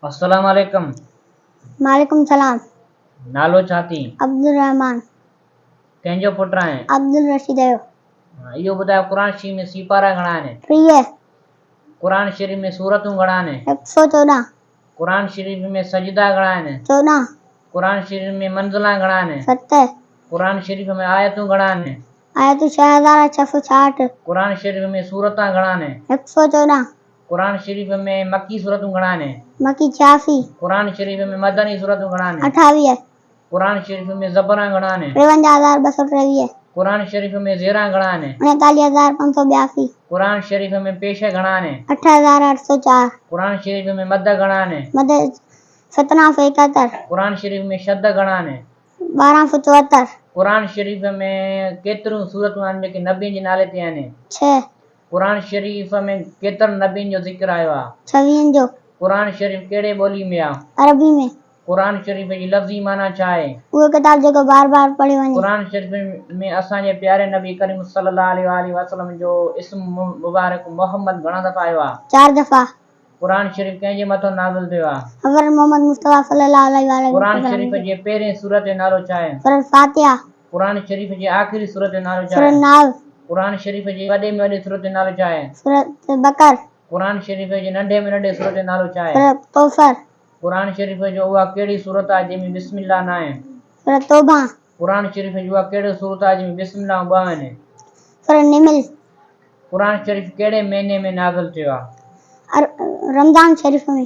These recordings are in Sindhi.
السلام عليڪم. وعليڪم السلام. نالو ڇا ٿئي؟ عبدالرحمان. ڪنهن جو پٽ آهين؟ عبدالرشيد جو. اهو ٻڌاء قرآن شريف ۾ سيپارا گهڻا آهن؟ ٽيهه. قرآن شريف ۾ سورتون گهڻا آهن؟ هڪ سؤ چوڏهن. قرآن شريف ۾ سجدا گهڻا آهن؟ چوڏهن. قرآن شريف ۾ منزلا گهڻا آهن؟ ست. قرآن شريف ۾ آيتون گهڻا آهن؟ آيتون ڇهه هزار ڇهه سؤ ڇاهٺ. قرآن شريف ۾ سورتان گهڻا آهن؟ هڪ سؤ چوڏهن. قرآن شريف ۾ مڪي سورتون گهڻا آهن؟ مڪي ڇياسي. قرآن شريف ۾ مدني سورتون گهڻا آهن؟ اٺاويهه. قرآن شريف ۾ زبران گهڻا آهن؟ ٽيونجاهه هزار ٻه سؤ ٽيويهه. قرآن شريف ۾ زيران گهڻا آهن؟ اڻيتاليهه هزار پنج سؤ ٻياسي. قرآن شريف ۾ پيشه گهڻا آهن؟ اٺ هزار اٺ سؤ چار. قرآن شريف ۾ مد گهڻا آهن؟ مد سترهن سؤ ايڪهتر. قرآن شريف ۾ شد گهڻا آهن؟ ٻارهن سؤ چوهتر. قرآن شريف ۾ ڪيتريون سورتون آهن جيڪي نبين جي نالي تي آهن؟ ڇهه. قرآن شريف ۾ ڪيترن نبين جو ذڪر آيو آهي؟ ڇويهن جو. قرآن شريف ڪهڙي ٻولي ۾ آهي؟ عربي ۾. قرآن شريف جي لفظي معنيٰ ڇا آهي؟ اهو ڪتاب جيڪو بار بار پڙهيو وڃي. قرآن شريف ۾ اسان جي پياري نبي ڪريم صلي الله عليه وآله وسلم جو اسم مبارڪ محمد گهڻا دفعا آيو آهي؟ چار دفعا. قرآن شريف ڪنهن جي مٿو نازل ٿيو آهي؟ حضرت محمد مصطفيٰ صلّي اللّٰه عليه واٰله وسلّم. قرآن شريف جي پهرين سورة جو نالو ڇا آهي؟ سورة الفاتحة. قرآن شريف جي آخري سورة جو نالو ڇا آهي؟ سورة الناس. قرآن شريف جي وڏي ۾ وڏي سورة جو نالو ڇا آهي؟ سورة البقر. قرآن شريف جي ننڍي ۾ ننڍي سورة جو نالو ڇا آهي؟ سورة الڪوثر. قرآن شريف جو اها ڪهڙي سورة آهي جنهن ۾ بسم الله ناهي؟ سورة توبة. قرآن شريف ۾ اها ڪهڙي سورت آهي جنهن ۾ بسم الله ۽ ٻه آهن؟ سورة النمل. قرآن شريف ڪهڙي مهيني ۾ نازل ٿيو آهي؟ رمضان شريف ۾.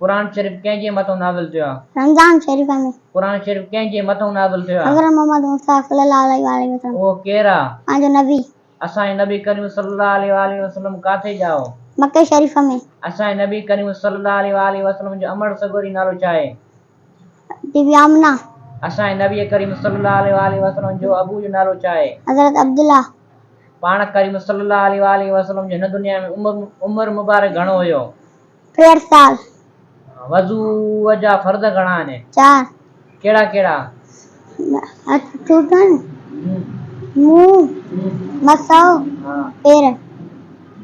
قرآن شريف ڪنهن جي مٿئون نازل ٿيو آهي؟ رمضان شريف ۾. قرآن شريف ڪنهن جي مٿئون نازل ٿيو آهي؟ حضرت محمد مصطفيٰ صلّي اللّٰه عليه واٰله وسلّم. اهو ڪير آهي؟ اسان جو نبي. اسان جي نبي ڪريم صلّي اللّٰه عليه واٰله وسلّم ڪاٿي جا هو؟ مڪي شريف ۾. اسان جي نبي ڪريم صلّي اللّٰه عليه واٰله وسلّم جو امڙ سڳوري نالو ڇا آهي؟ بي بي آمنه. اسان جي نبي ڪريم صلي الله عليه واٰله وسلم جو ابو جو نالو ڇا آهي؟ حضرت عبدالله. پاڻ ڪريم صلي الله عليه واٰله وسلم جو هن دنيا ۾ عمر مبارڪ گهڻو هيو؟ ٽيهٺ سال. وضوء جا فرض گهڻا آهن؟ چار. ڪهڙا ڪهڙا؟ هٿ ٽوٽڻ، منهن، مس ۽ پير.